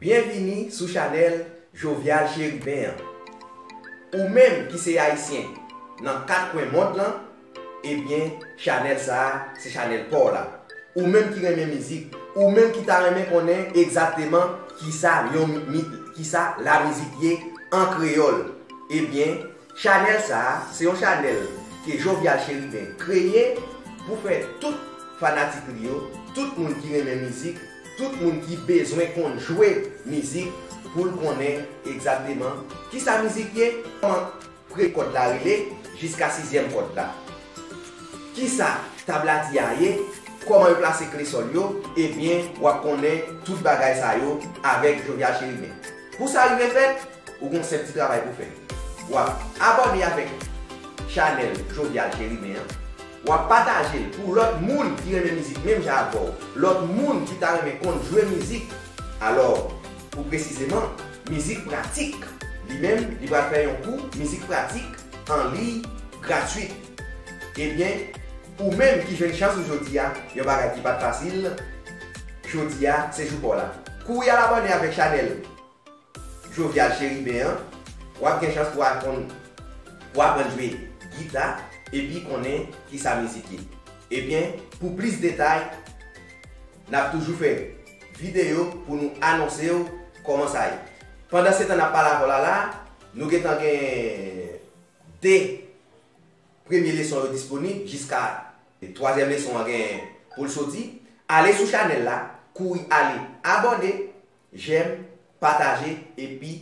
Byenvini sou chanèl Jovial Chérubin an. Ou menm ki se Ayisyen nan 4 kwen mond lan, ebyen chanèl sa a se chanèl pa w la. Ou menm ki renmen mizik, ou menm ki ta renmen konnen egzakteman kisa yon kisa lamizik ye an kreyòl, ebyen Chanèl sa se yon chanèl ke Jovial Chérubin kreye pou fè tout fanatik li yo, tout moun ki renmen mizik, tout moun ki bezwen konn jwe mizik pou l konnen egzakteman kisa mizik ye, kòman pre kòd la rele jiska sizyèm kòd la, kisa tabladi a ye, kòman yo plase kle sòl yo, ebyen wap konnen tout bagay sa yo avèk Jovial Chérubin. Pou sa rive fèt, ou gen yon senp ti travay pou fè. Wap abòne avèk chanèl Jovial Cherubin an, wap patajel pou lòt moun ki renmen mizik menm jan avèw, lòt moun ki ta renmen konn jwe mizik, alò pou presizeman mizik pratik. Li menm, li pral fè yon kou mizik pratik an liy gratuit. Ebyen. Ou menm ki jwenn chans ou jodi a, yon bagay ki pat fasil, jodi a se jou paw la. Kouri al abòne avèk chanèl Jovial Chérubin an, wap gen chans pou aprann pou aprann jwe gita epi konnen kisa mizik ye. Ebyen pou plis detay nap toujou fè videyo pou nou anonsew kòman sa ye. Pandansetan nap pale avèw la la, nou gentan gen 2. Premye leson yo disponib jiska twazyèm leson an gen pou l soti. Ale sou chanèl la, kouri ale abòne, jèm, pataje epi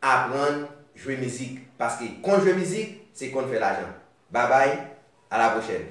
aprann jwe mizik paske konn jwe mizik se konn fè lajan. Babay, a la pwochèn!